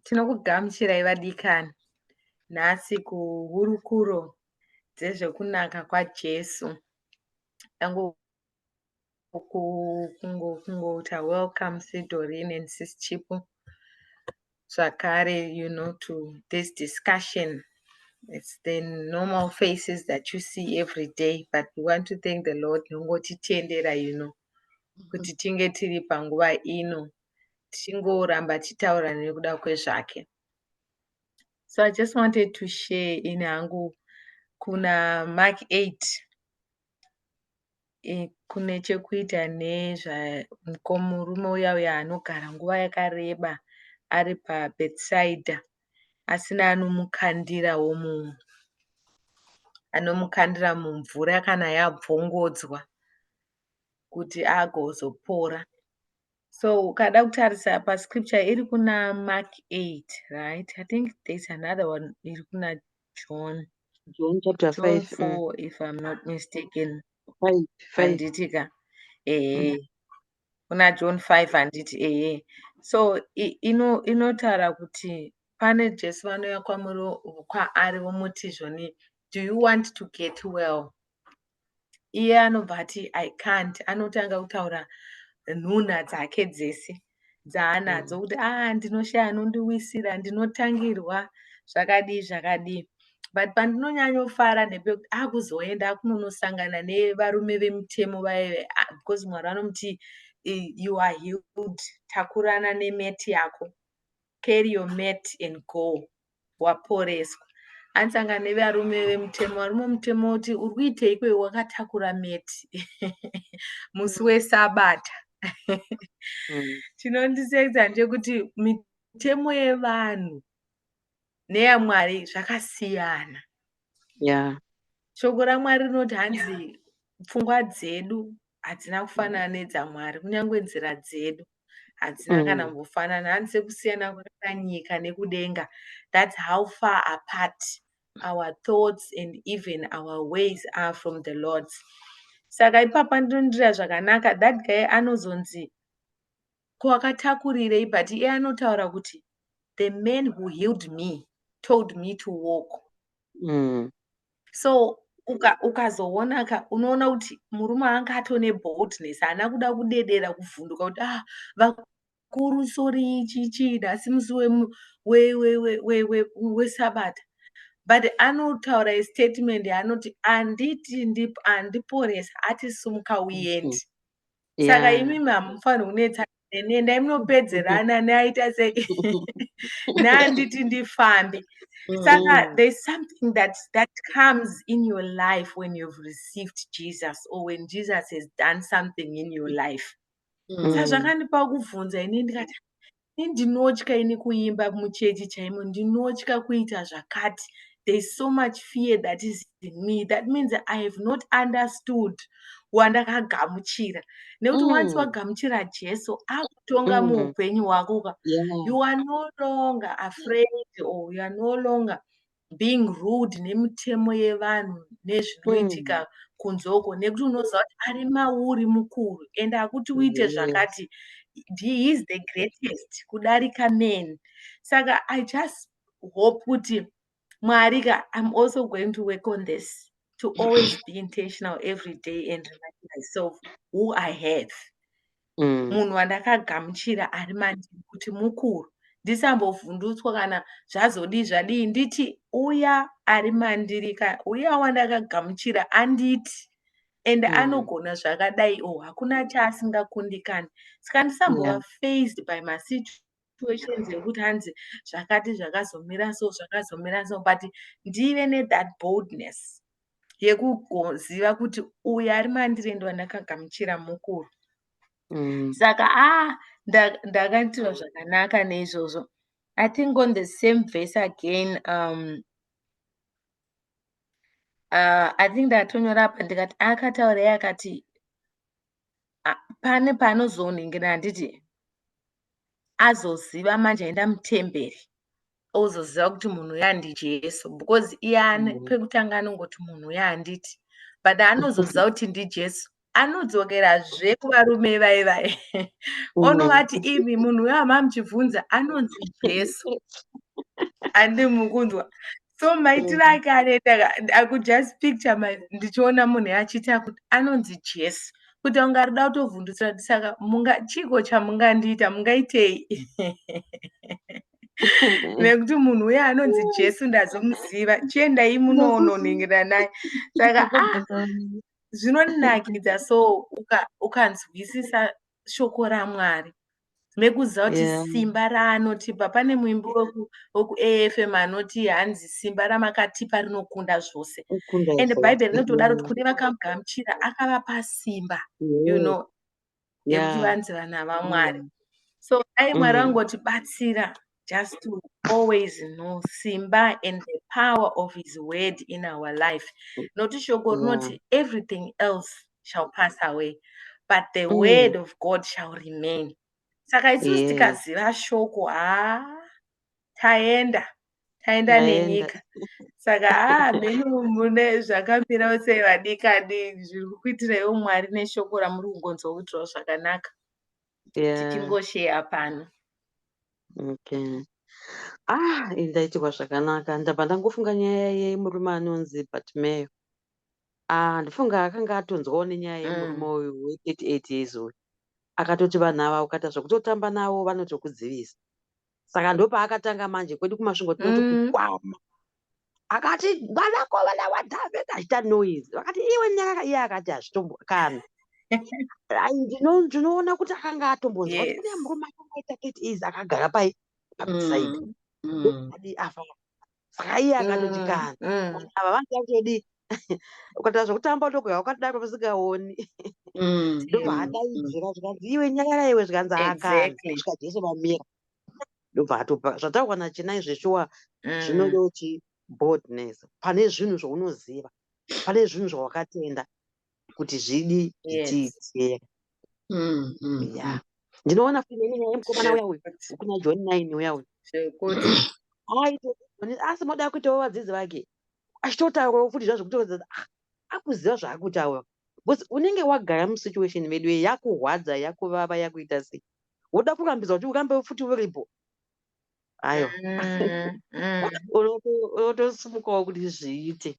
tinokugamuchirai vadikani nhasi kuhurukuro dzezvekunaka kwajesu kungouta welcome sidorin and sis chipo zvakare you know to this discussion it's the normal faces that you see every day but we want to thank the lord nongotitendera you know mm-hmm. kuti tinge tiri panguva ino tichingoramba tichitaura nekuda kwezvake so i just wanted to share in hangu kuna mark 8 kune chekuita nemurume uya uya anogara nguva yakareba ari pa birth side asina anomukandirawo munhu anomukandira mumvura kana yabvongodzwa kuti agozopora. So ukada kutarisa pa scripture iri kuna Mark 8, right? I think there's another one iri kuna John. John chapter John 5. 4 mm. if I'm not mistaken. 5. 5. Handiti ka? Eh. Mm. Kuna John 5 handiti eh. So ino inotara kuti pane Jesu vanouya kwamuri kwaari vomuti zvoni do you want to get well? iye anobva ati i can't anotanga kutaura nhunha dzake dzese dzaanadzo mm. kuti ah ndinoshaya anondiwisira ndinotangirwa zvakadii zvakadii but pandinonyanyofara ndepekuti akuzoenda ah, akunonosangana nevarume vemutemo vaye ah, because mwari vanomuti you are healed takurana nemeti yako carry your mat and go waporeswa anisanga nevarume vemutemo varume vemutemo kuti uri kuitei kwe wakatakura mat musi mm. wesabata mm. chinondisekza ndechekuti mitemo yevanhu neyamwari zvakasiyana yeah. shoko ramwari rinoti hanzi pfungwa dzedu hadzina kufanana nedzamwari kunyange nzira dzedu hadzina mm. kana kumbofanana hanzi sekusiyana kwakaita nyika nekudenga thats how far apart our thoughts and even our ways are from the lords saka ipapa ndinondira zvakanaka that guy anozonzi ko akatakurirei but iye anotaura kuti the man who healed me told me to walk mm. so ukazoona uka unoona kuti murume anga atone boldness haana kuda kudedera kuvhunduka kuti ah vakuru sori chichii nhasi musi wesabata but anotaura istatement anoti anditi andiporesa ati sumuka uyendi mm -hmm. saka yeah. imimi hamufaniri kunetsa neni endai munopedzerana neaita sei neanditi ndifambe saka mm. there's something that that comes in your life when you've received jesus or when jesus has done something in your life mm. sa zvakandipa kubvunza ini ndikati Ini ndinotya ini kuimba muchechi chaimo, ndinotya kuita zvakati. There is so much fear that is in me. That means I have not understood wandakagamuchira. Nekuti mm. once wagamuchira Jesu, akutonga mm. muupenyu hwako ka. Yeah. You are no longer afraid or you are no longer being rude nemitemo yevanhu nezvinoitika mm. kunze uko nekuti unoziva kuti ari mauri mukuru and akuti uite yes. zvakati he is the greatest kudarika men saka i just hope kuti mwari ka im also going to work on this to always be intentional every day and remind myself who i have mm. munhu wandakagamuchira ari mandiri kuti mukuru ndisambovhundutswa kana zvazodii zvadii nditi uya ari mandiri ka uya wandakagamuchira anditi and mm. anogona zvakadai o oh, hakuna chaasingakundikani saka ndisambova yeah. faced by masituation situations yekuti hanzi zvakati zvakazomira so zvakazomira so but ndive nethat boldness yekuziva kuti uyu ari mandiri ende wandakagamuchira mukuru mm. saka a ah, ndakaitirwa zvakanaka neizvozvo i think on the same verse again um, uh, i think ndatonyora apa ndikati akataurei akati ah, pane paanozonhingira handiti azoziva manje aenda mutemberi ozoziva kuti munhu uya ndijesu because iyani mm. pekutanga anongoti munhu uya handiti but anozoziva kuti ndijesu anodzokerazve kuvarume vaye vaye mm. onovati imi munhu uya mamuchibvunza anonzi jesu andi mukunzwa so maitiro mm. ake anoita akujust picture ndichiona munhu achiita kuti anonzi jesi kuti anga rida kutovhundutsira kuti saka chiiko chamungandiita mungaitei nekuti munhu uye anonzi jesu ndazomuziva chiendai munoononhingira naye saka ah, zvinonakidza so ukanzwisisa shoko ramwari mekuziva kuti yeah. simba raanotipa pane muimbi wekuafm anoti hanzi simba ramakatipa rinokunda zvose and bhaibheri rinotodaro kuti kune vakamugamuchira akavapa simba yeah. you know yekuti yeah. vanzi vana vamwari mm. so dai mwari mm. vangotibatsira just to always know simba and the power of his word in our life nokuti shoko rinoti yeah. everything else shall pass away but the mm. word of god shall remain saka isusu yeah. tikaziva shoko haa ah, taenda taenda nenyika saka haa ah, menu mune zvakamira ose vadikadi zviri kukuitiraiwo mwari neshoko ramuri kungonzwa kuitirawo zvakanaka yeah. tichingosheya pano okay ah ndaitirwa zvakanaka ndabva ndangofunga nyaya yemurume anonzi batmayo ah ndifunga akanga atonzwawo nenyaya yemurume mm. uyu we 38 years uyu akatoti vanhu ava ukata zvekutotamba navo vanotokudzivisa saka ndopaakatanga manje kwedu kumasvingo tinoti mm. kukwama akati vanako vana wadhavheka achita noise vakati iwe nyaka iye akati hazvitombo kana ndinoona kuti akanga atombonzwa kuti kune murume akangaita kiti izi akagara pai pamisaidi mm. mm. saka iye akatoti mm, kana mm. ava vanhu vakutodi ukatira zvekutamba utokuya wakatodaro vasingaoni mm, ndobva adaidzira zvikanzi iwe nyakara iwe zvikanzi akaasvika jesu vamira ndobva atopa zvataurwa nachinai zveshuwa zvinode uchi boldness pane zvinhu zvaunoziva pane zvinhu zvawakatenda kuti zvidi zvichiitika mm, mm, ya mm. ndinoona kuine nyaya yemukomana uya uyu kuna john nine uya uyu asi moda kuitawo vadzidzi vake achitotaurawo futi zva zvekutoedza ah, akuziva zvaakutaura bcause unenge wagara musituation medu ye yakurwadza yakuvava yakuita sei woda kurambidzwa kuti urambe futi uripo ayo mm, mm. unotosimukawo kuti zviite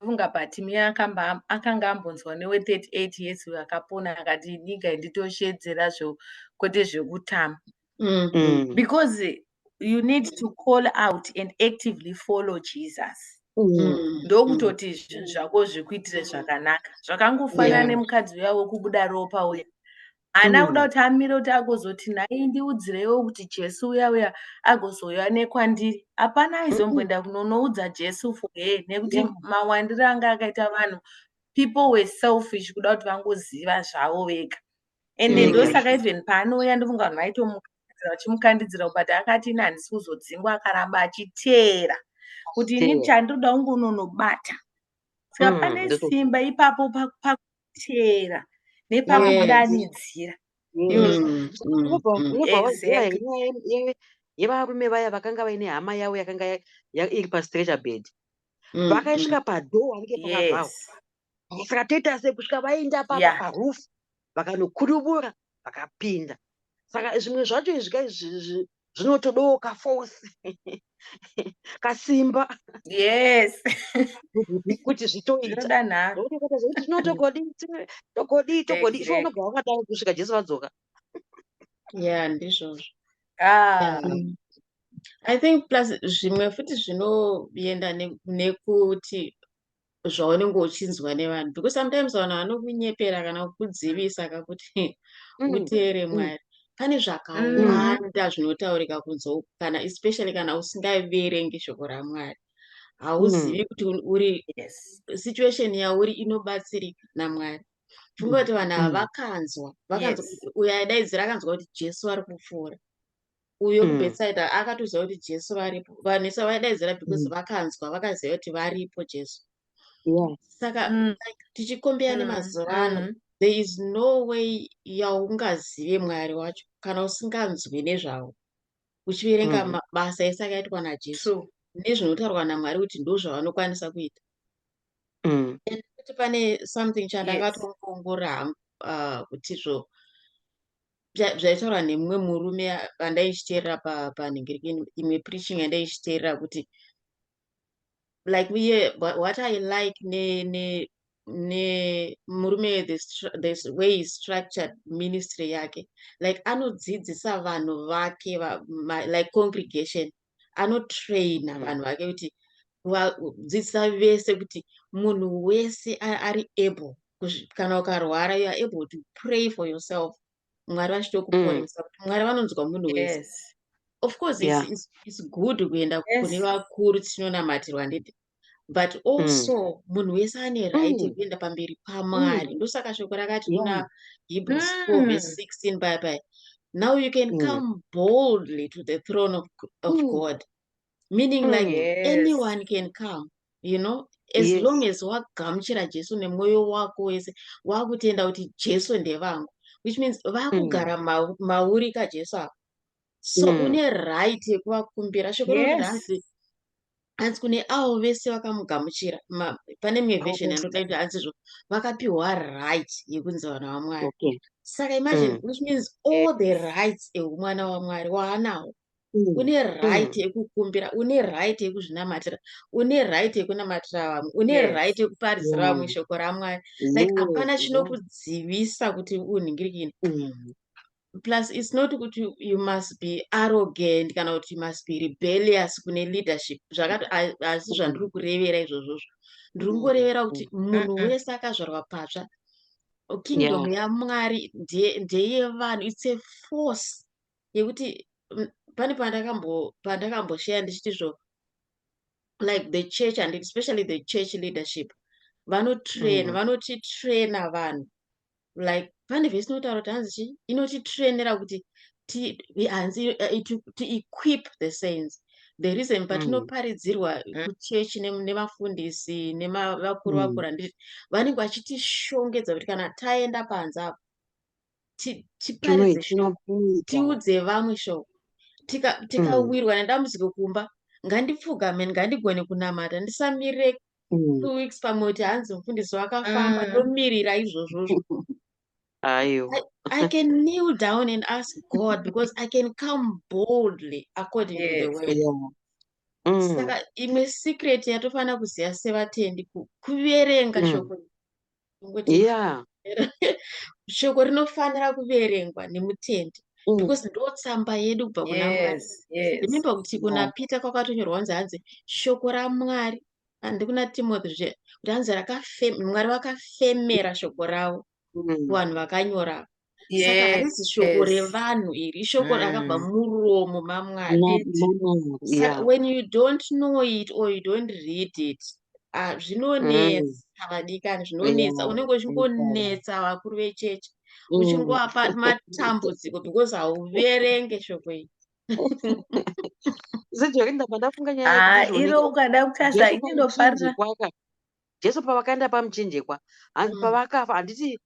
funga but miya akamba akanga ambonzwa newe 38 years uyo akapona akati inika nditosheedzera zvo kwete zvekutama mm. mm. because you need to call out and actively follow jesus mm. Mm. ndokutoti mm. zvinhu zvako zvikuitire zvakanaka zvakangofanana yeah. nemukadzi uya wekubuda ropa uya haana mm. kuda kuti amire kuti agozoti nhai ndiudzireiwo kuti jesu uya uya agozouya nekwandiri hapana aizomboenda kunonoudza jesu for he nekuti yeah. mawandiro anga akaita vanhu people were selfish kuda kuti vangoziva zvavo vega and mm. ndosaka even paanouya ndofunga vanhu vaitomuka vachimukandidzira but akati ini handisi kuzodzingwa akaramba achiteera kuti ini chandinoda kungononobata saka mm, pane simba ipapo chera nepamudanidzira yevarume vaya vakanga vaine hama yavo yakanga iri pastreture bed mm, vakaisvika mm. padhoo vanenge pakavhawa saka toita se kusvika vaenda papa parufu vakanokudubura vakapinda saka zvimwe zvacho izvi zvinotodawo kaforce kasimba yes kuti zvitoita no togodii togodii togodii ivo unobva wakadaro kusvika jesu vadzoka ya ndizvozvo ah. i think plus zvimwe futi zvinoenda nekuti zvaunenge uchinzwa nevanhu because sometimes vanhu vanokunyepera kana kukudzivisa kakuti mm. uteere mm. mwari pane zvakawanda zvinotaurika kunze uku kana especially kana usingaverengi shoko ramwari hauzivi mm. kuti uri situation yauri inobatsirika namwari funga kuti vanhu ava vakanzwa vakanzwa uyo aidaidzira akanzwa kuti jesu ari kupfuura uyo mm. kubetsaida akatoziva kuti jesu varipo vanhu isa vaidaidzira because mm. vakanzwa vakaziva kuti varipo jesu yeah. saka mm. like, tichikombea mm. nemazuva ano mm. there is no way yaungazive mwari wacho kana usinganzwi nezvavo uchiverenga mm. mabasa ese akaitwa najesu nezvinotaurwa namwari kuti ndo zvavanokwanisa kuita mm. kuti pane something chandakatoongorora hangu uh, kuti zvo zvaitaura nemumwe murume andaichiteerera panhingiriki imwe preaching andaichiteerera kuti like uye what i like ne ne ne murume this, this way is structured ministry yake like anodzidzisa vanhu vake va, my, like congregation anotraina mm. vanhu vake kuti vadzidzisa vese kuti munhu wese ari able kana ukarwara you are able to pray for yourself mwari vachitokuponesa mm. kuti mwari vanonzwa munhu wese yes. of course yeah. it's, it's, it's good kuenda yes. kune vakuru tichinonamatira handiti but mm. also mm. munhu wese ane right mm. yekuenda mm. pamberi pamwari mm. ndosaka shoko rakati kuna yeah. hebrews mm. 4 verse 16 bye bye now you can mm. come boldly to the throne of, of mm. god meaning mm, like yes. anyone can come you know as yes. long as wagamuchira jesu nemwoyo wako wese wakutenda kuti jesu ndevangu which means vakugara mm. ma, mauri kajesu avo so mm. une right yekuvakumbira shoko yes. hanzi kune avo vese vakamugamuchira pane imwe version yandota kuti hanzi zvo vakapiwa right yekunzi vana vamwari okay. saka imagine mm. which means all the rights ehumwana wamwari waanawo mm. une right mm. yekukumbira mm. une right yekuzvinamatira une right yekunamatira vamwe une yes. right yekuparisira vamwe mm. shoko ramwari like hapana mm. chinokudzivisa kuti unhingirikini mm. plus its not kuti you must be arrogant kana kuti you must be rebellious kune leadership zvakati asi zvandiri kurevera izvozvozvo ndiri kungorevera mm, kuti mm, munhu mm, wese akazvarwa patsva kingdom yamwari ndeyevanhu its a force yekuti pane pandakambosheya ndichiti zvo like the church and especially the church leadership vanotrain vanotitraina vanhu like pane vhesi inotaura kuti hanzi chii inotitrainera kuti hanzi eh, to equip the saints the reason mm. patinoparidzirwa mm. kuchechi nevafundisi nevakuru mm. vakura ndii vanenge vachitishongedza kuti kana taenda panze apo tiparidze shoko tiudze vamwe shoko tikawirwa nedambudziko kumba ngandipfugameni ngandigone kunamata ndisamire Mm. two weeks pamwe kuti hanzi mufundisi wakafamba Mm. ndomirira izvozvozvo Aiwa. I, I can kneel down and ask God because I can come boldly according to the Yes. word. Yeah. Mm. Saka imwe secret yatofanira kuziva sevatendi ku- kuverenga Mm. shoko iri. yeah. shoko rinofanira kuverengwa nemutendi mm. because ndo tsamba yedu kubva kuna mwari yes, yes. remember kuti kuna mm. peter kwakatonyorwa kunzi hanzi shoko ramwari handi kuna timothy zve kuti hanzi mwari vakafemera shoko ravo mm. kuvanhu mm. vakanyora saka harisi shoko revanhu iri ishoko rakabva mm. muromo mamwari when you don't know it or you don't read it ah, zvinonetsa mm. vadikani zvinonetsa unenge uchingonetsa vakuru vechechi mm. uchingovapa matambudziko because hauverenge shoko iri ah, iro ukada kukasa inofarira Jesu pavakaenda pamuchinjikwa hanzi mm. pavakafa handiti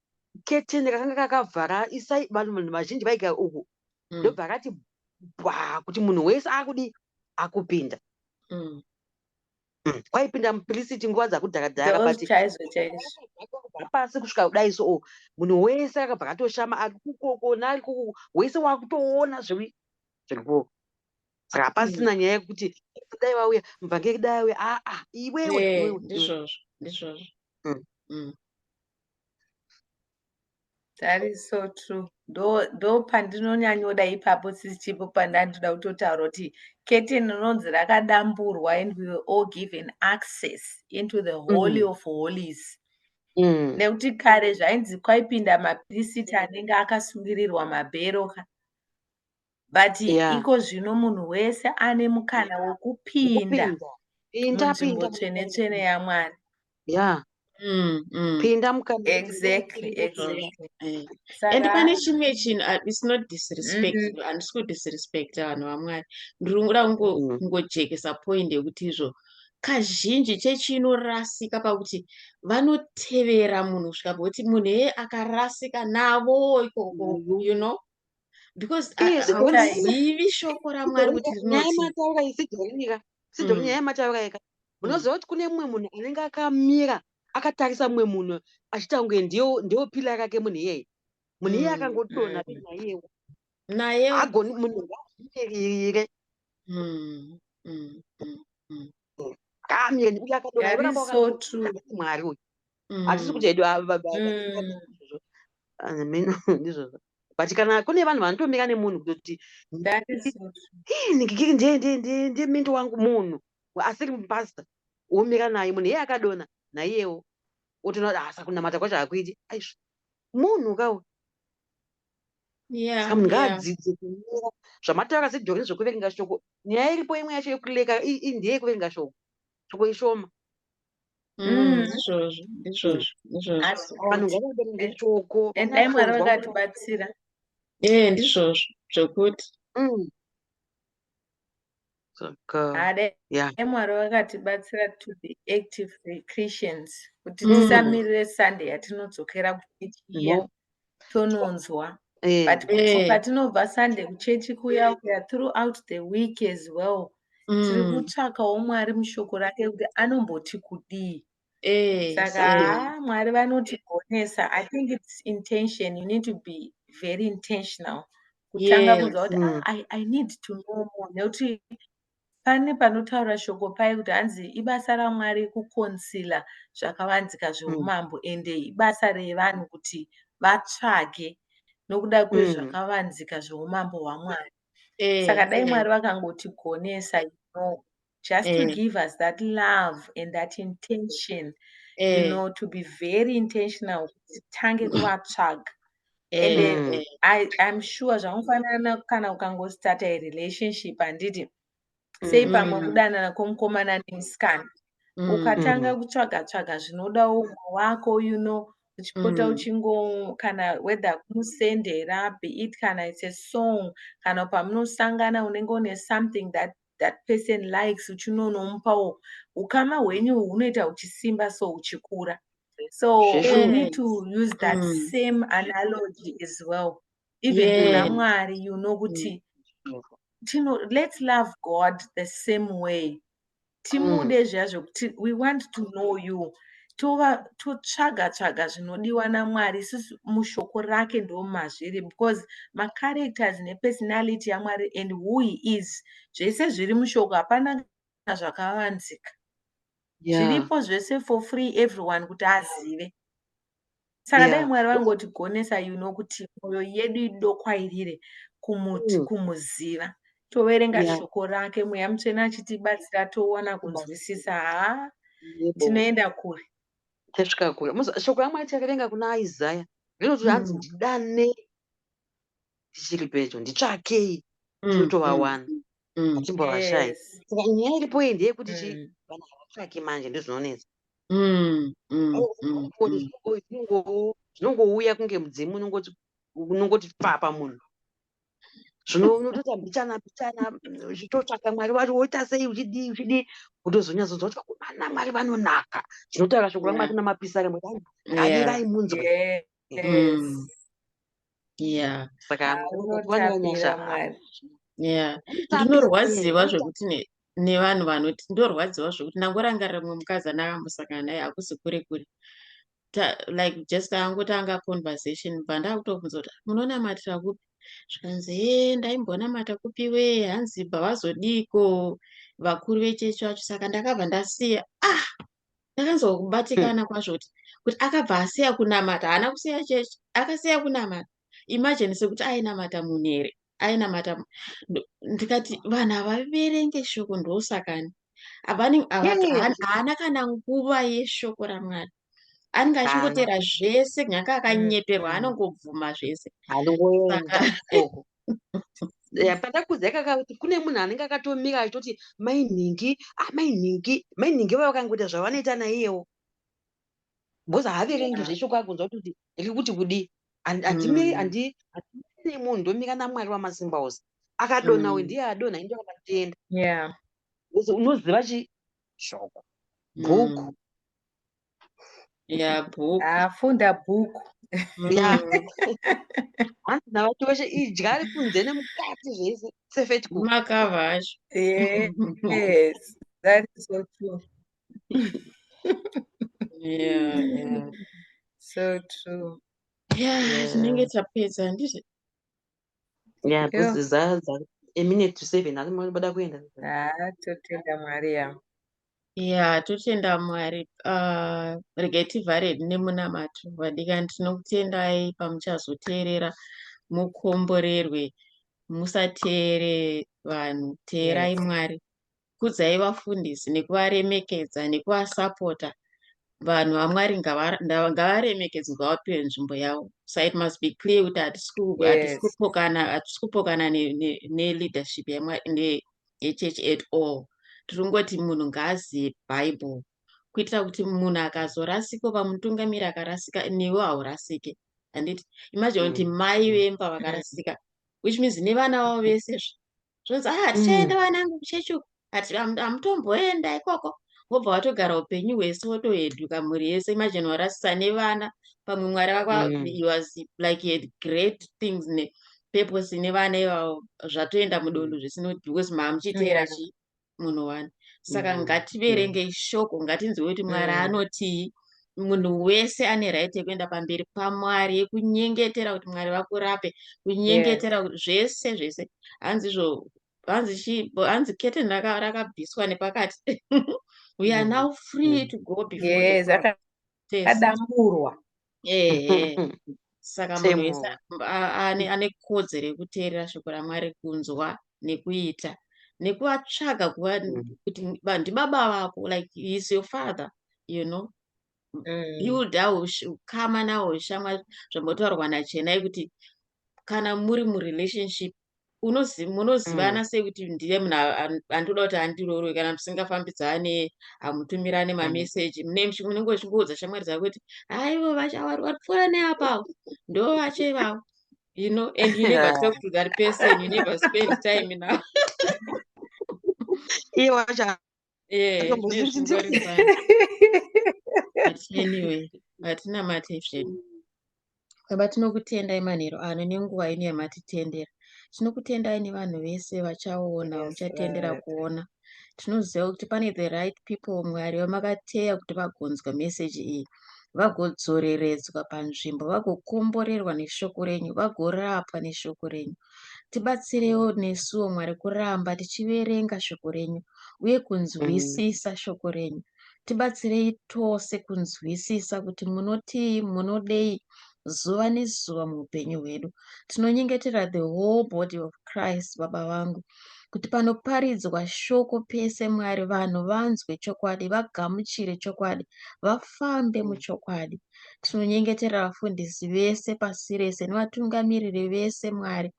keteni rakanga kakavhara isai vanhu vanhu vazhinji vaigara uku mm. ndobva mm. akati bwa kuti munhu wese akudi akupinda mm. mm. kwaipinda mupirisiti nguva dzakudhara dhara butpasi kusvika kudai so oh, munhu wese akabva katoshama ari kukokona ari kuku wese wakutoona zviri zviri kuoko saka hapasina nyaya yekuti dai vauya mubvange dai auya aa ah, ah, iwewe eh, ndizvozvo ndizvozvo mm. mm. that is so true ndo pandinonyanyoda ipapo sisi chipo pandandida kutotaura kuti kete rinonzi rakadamburwa and we were all given access into the holy mm. of holies mm. nekuti kare zvainzi kwaipinda mapirisiti anenge akasungirirwa mabhero ka but yeah. iko zvino munhu wese ane mukana wekupinda munzvimbo tsvene tsvene yamwari yeah. mm, mm. pinda mukaexactly exactly. Eh. and pane chimwe chinhu ah, its not disrespect mm -hmm. handisi kudisrespecta vanhu vamwari ndiri kuda kungojekesa mm. point yekuti izvo kazhinji chechi inorasika pakuti vanotevera munhu kusvika pekuti munhu eye akarasika navo ikoko mm-hmm. you know because haivi shoko ramwari kuti rinotinyaya isidomirira sidhori mm. nyaya yemataura yeka mm. munoziva kuti kune mumwe munhu anenge akamira akatarisa mumwe munhu achiita kunge ndiwo pila rake munhu iyeye munhu iyeye mm, akangotona naiyewo naye agoni munhu ngazvimirire kamire nekuti akadonamwari uyu hatisi kuti hedu meno ndizvozvo but kana kune vanhu vanotomira nemunhu kutoti ndiye mendo wangu munhu asiri mupasta womira naye munhu iye akadona naiyewo otoona kuti asa kunamata kwacho hakuiti aizvo munhu kawo saka munhu ngaadzidze kumira zvamataura sedhori zvokuverenga shoko nyaya iripo imwe yacho yekuleka ndeyekuverenga shoko tsvoko ishoma mm, izvozvo izvozvo izvozvovanhu ngavaberenge tsvoko endai mwari vakatibatsira ee ndizvozvo zvokuti mm. saka mwari vakatibatsira to be active christians kuti mm. tisamirire sunday yatinodzokera kuichiya tononzwa eh. but eh. patinobva sunday kuchechi kuya kuya throughout the week as well mm. tiri kutsvakawo mwari mushoko rake kuti anomboti kudii eh, saka mwari vanotigonesa i think its intention you need to be very intentional kutanga kunzwa kuti mm. ah, i need to know more nekuti Pane panotaura shoko paye kuti hanzi ibasa raMwari kukonsila zvakavanzika zveumambo mm. ende ibasa revanhu kuti vatsvage nokuda mm. kwezvakavanzika zveumambo hwaMwari. Eh, Saka dai eh. Mwari vakangotigonesa you know, just to eh. give us that love and that intention you know, to be very intentional kuti titange kuvatsvaga and eh, mm. I, i'm sure zvamufanana kana ukangostarta a relationship handiti sei pamwe mm. kudanana kwomukomana nemusikana mm, ukatanga mm. kutsvaga tsvaga zvinoda umwe wako you know uchipota uchingo kana whether kumusendera be it kana it's a song kana pamunosangana unenge une something that that person likes uchino unomupawo ukama hwenyu hunoita huchisimba so uchikura so we need to use that mm. same analogy as well even kuna yeah. mwari you know kuti mm. tino let's love god the same way timude mm. zviya zvekuti we want to know you totsvaga to tsvaga zvinodiwa namwari isusu mushoko rake ndomazviri because macharacters nepersonality yamwari and who he is zvese zviri mushoko hapana kana zvakavanzika yeah. zviripo zvese for free everyone kuti azive saka yeah. dai mwari vangotigonesa you know kuti mwoyo yedu idokwairire kumuti mm. kumuziva toverenga yeah. shoko rake mweya mutsvene achitibatsira toona kunzwisisa ha tinoenda kure tasvika kure shoko ramwari takaverenga kuna isaya rinoti mm. hanzi ndidane tichiri pedyo nditsvakei mm, tinotovawana mm. mm. achimbovashaya yes. saka nyaya iripo iyi ndeyekuti chi mm. vanhu havatsvaki manje ndozvinonetsa mm, mm, oh, mm, oh, mm. zvinongo- zvinongouya kunge mudzimu unongoti unongoti papa munhu zvino unotoita mbichana mbichana mm, uchitotsvaka mwari wari woita sei uchidii uchidii kutozonyatsonzwa kuti vakomana mwari vanonaka zvinotaura shoko ramwari Yeah. kuna mapisarema Yeah. avirai munzwe mm. yeah saka yeah ndinorwadziwa zvekuti nevanhu vanoti ndorwadziwa zvekuti ndangorangarira mumwe mukadzi anaka musangana naye hakusi kure kure like just angotanga conversation bva ndakutobvunza kuti munonamatira kupi zvikanzi he ndaimbonamata kupi we hanzi bva vazodiiko vakuru vechechi vacho saka ndakabva ndasiya ah ndakanzobatikana kwazvo kuti kuti akabva asiya kunamata haana kusiya chechi akasiya kunamata imajini sekuti ainamata munhu here ainamata ndikati vanhu havaverenge shoko ndosakani haana kana nguva yeshoko ramwari anenge achingotera zvese nyaka akanyeperwa mm. anongobvuma zvese pandakudza ikaka kuti kune munhu anenge akatomira achitoti mai nhingi amai ah, nhingi mai nhingi vava vakangoita zvavanoita naiyewo bcause haaverengi zveshe kwakunzwa kutoti ri kuti kudii handimiri mm. handi nemunhu ndomira namwari wamasimba ose akadona uyu mm. ndiye adona ini ndakamatenda unoziva chi shoko bhuku mm. ya bhuku afunda bhuku ya hanzi navati weshe idya ari kunze nemukati zvese sefet ku makava acho yes that is so true yeah yeah so true yeah tinenge tapedza handizvo Yeah, because Yo. zaza a minute to seven asi mwari bada kuenda. Ah, totenda Mwari ya. Yeah, totenda Mwari. Uh, regai tivhare nemunamato vadikani tinokutendai pamuchazoteerera mukomborerwe musateere vanhu teerai Yes. Mwari. kudzai vafundisi nekuvaremekedza nekuvasapota vanhu vamwari ngavaremekedzwe vapiwe nzvimbo yavo so it must be clear kuti hatisi kupokana neleadership yechurch at all tiri kungoti munhu ngaazive bible kuitira kuti munhu akazorasika oba mutungamiri akarasika newe haurasike handiti imagine kuti mm. mai vemba vakarasika which means nevana vavo vese zve zvonzi ah tichaenda mm. vanangu kuchechi uku ati hamutomboenda ikoko wobva watogara upenyu hwese wotoheduka mhuri yese imajini warasisa nevana pamwe mwari vakwa mm. was like had great things ne purpose nevana ivavo zvatoenda mudondo mm. zvisinoti because maamuchiteera chii munhu wani saka mm. ngativerengei mm. shoko ngatinzwe kuti mwari mm. anotii munhu wese ane right yekuenda pamberi pamwari yekunyengetera kuti mwari vakurape kunyengetera yes. zvese zvese hanzi zvo hanzi chi hanzi kete rakabviswa nepakati we are now free to go before yes, Test. kadamburwa Ehe. Saka munhu Same. wese a- ane ane kodzero yekuteerera shoko raMwari kunzwa nekuita nekuvatsvaga kuva Mm. kuti ba- ndibaba vako like he is your father you know Mm. hilda ush- ukama nawo shamwari zvambotaurwa nachenai kuti kana muri murelationship munozivana mm. sei kuti ndiye munhu andinoda kuti andirorwe kana musingafambidzane hamutumirane mm. mameseji mune munenge uchingoudza shamwari dzako kuti haivo vachavari vari pfuura neapavo ndo vacho ivavo you know and you never talk to that person you never spend time now iye wacho hatinamate zvedu baba tinokutendai manhero ano nenguva ino yamatitendera tinokutendai nevanhu vese vachaona uchatendera kuona tinoziva kuti pane the right people mwari vamakateya kuti vagonzwa meseji iyi vagodzoreredzwa panzvimbo, vagokomborerwa neshoko renyu, vagorapwa neshoko renyu. Tibatsirewo nesuwo Mwari kuramba tichiverenga shoko renyu uye kunzwisisa shoko renyu. Tibatsirei tose kunzwisisa kuti munotii, munodei, zuva nezuva muupenyu hwedu tinonyengetera the whole body of christ baba vangu kuti panoparidzwa shoko pese mwari vanhu vanzwe chokwadi vagamuchire chokwadi vafambe muchokwadi tinonyengetera vafundisi vese pasi rese nevatungamiriri vese mwari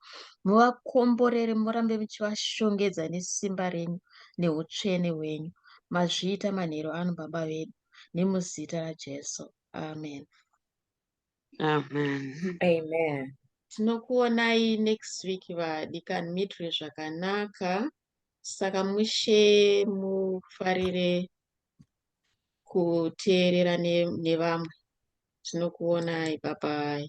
muvakomborere murambe muchivashongedza nesimba renyu neutsvene hwenyu mazviita manheru ano baba vedu nemuzita rajesu amen Amen. Amen. Tinokuonai next week vadikani muitire zvakanaka saka mushe mufarire kuteerera ne- nevamwe. Tinokuonai bye bye.